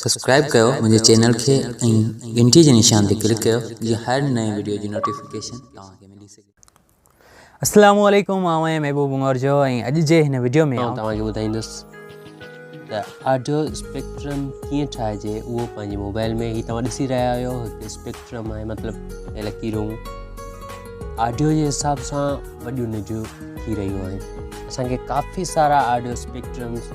subscribe ڪيو منهنجي channel کي ۽ گهنٽي جي نشان تي ڪلڪ ڪيو جيئن هر نئين وڊيو جي نوٽيفڪيشن توهان کي ملي سگهي السلام عليڪم آئون آهيان محبوب مورجو ۽ اڄ جي هن وڊيو ۾ آئون توهان کي ٻڌائيندس ته آڊيو اسپيڪٽرم ڪيئن ٺاهجي اهو پنهنجي موبائل ۾ هي توهان ڏسي رهيا آهيو هڪ اسپيڪٽرم آهي مطلب لڪيرون آڊيو جي حساب سان وڏيون نجون ٿي رهيون آهن اسانکي ڪافي سارا آڊيو اسپيڪٽرمس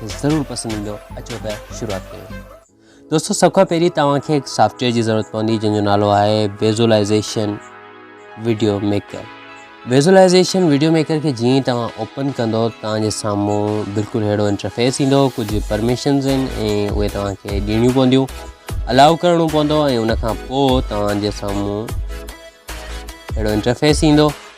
ضرور پسند ايندو اچو ته شروعات ڪيون دوستو سڀ کان پهرين توهان کي هڪ سافٽ ويئر جي ضرورت پوندي جنهن جو نالو آهي visualization video maker visualization video maker کي جيئن ئي توهان اوپن ڪندو توهان جي سامهون بلڪل ههڙو انٽرفيس ايندو ڪجهه پرميشنز آهن ۽ اهي توهان کي ڏيڻيون پونديون الاؤ ڪرڻو پوندو ۽ ان کان پوء توهان جي سامهون اهڙو انٽرفيس ايندو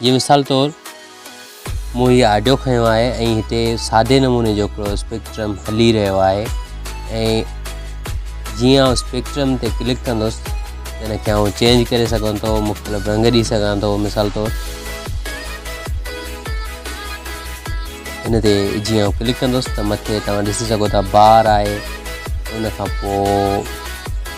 جي مثال طور مون هي آڊيو کنيو آهي ۽ هتي سادي نموني جو هڪڙو اسپيڪٽرم هلي رهيو آهي ۽ جيئن آئون اسپيڪٽرم تي ڪلڪ ڪندس ان کي آئون چينج ڪري سگھان ٿو مختلف رنگ ڏي سگھان ٿو مثال طور ان تي جيئن آئون ڪلڪ ڪندس ته مٿي توهان ڏسي سگھو ٿا بار آهي ان کان پوء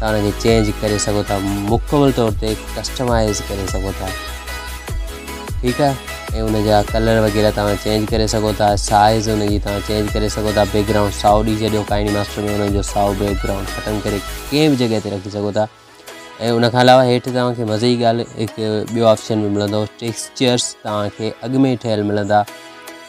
تان ان کي چينج ڪري سگهو ٿا مڪمل طور تي ڪسٽمائز ڪري سگهو ٿا ٺيڪ آ اي ان جا ڪلر وغيره تان چينج ڪري سگهو ٿا سائز ان جي تان چينج ڪري سگهو ٿا بيڪ گرائونڊ ساو ڏي جڏيو ڪائني ماسٽر ۾ ان جو ساو بيڪ گرائونڊ ختم ڪري ڪنهن به جگهه تي رکي سگهو ٿا اي ان کان علاوه هيٺ تان کي مزي جي ڳالهه هڪ ٻيو آپشن به ملندو ٽيڪسچرز تان کي اڳ ۾ ٺهيل ملندا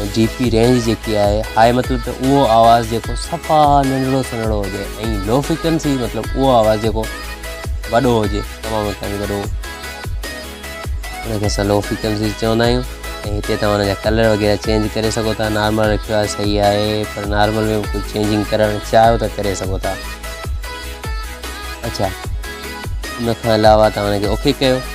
۽ ڊي پي رينج جيڪي آهي هاء مطلب ته اهو آواز جيڪو صفا ننڍڙو سنهڙو هجي ۽ لو فيڪنسي مطلب اهو آواز جيڪو وڏو هجي تمام تائين وڏو انکي اسان لو فيڪنسي چوندا آهيون ۽ هتي تمام جا ڪلر وغيره چينج ڪري سگهو ٿا نارمل رکيو آهي صحيح آهي پر نارمل ۾ ڪجهه چينجنگ ڪرڻ چاهيو ته ڪري سگهو ٿا اچھا ان کان علاوه تمام کي اوکي ڪيو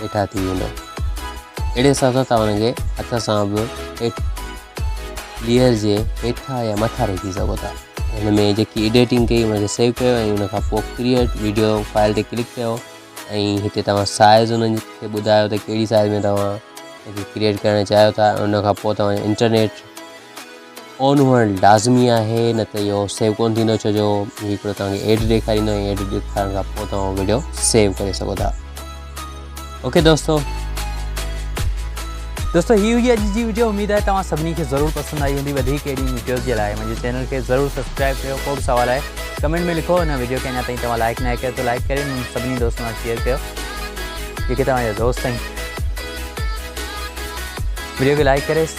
هيٺان ٿي ويندو اهڙي حساب سان تهان هن کي هٿ سان به هيٺ ليئر جي هيٺان يا مٿان رکي سگهو ٿا هن ۾ جيڪي ايڊيٽنگ کي ان کي سيو ڪيو ۽ ان کان پوء ڪريئيٽ ويڊيو فائل تي ڪلڪ ڪيو ۽ هتي توهان سائز ان کي ٻڌايو ته ڪهڙي سائز ۾ توهان کي ڪريئيٽ ڪرڻ چاهيو ٿا ان کان پوء توهان انٽرنيٽ آن هئڻ لازمي آهي نه ته اهو سيو ڪونه ٿيندو ڇو جو هي هڪڙو توهان کي ايڊ ڏيکاريندو ۽ ايڊ ڏيکارڻ کان پوء توهان ويڊيو سيو ڪري سگهو ٿا اوڪي دوستو دوستو هي هئي اڄ جي ويڊيو اميد آهي توهان سڀني کي ضرور پسند آئي هوندي وڌيڪ اهڙي ويڊيوز جي لاء منهنجي چينل کي ضرور سبسڪرائب ڪيو ڪو به سوال آهي ڪمينٽ ۾ لکو هن ويڊيو کي اڃا تائين توهان لائڪ نه ڪيو ته لائڪ ڪري منهنجي سڀني دوستن سان شيئر ڪيو جيڪي توهان جا دوست آهن ويڊيو کي لائڪ ڪري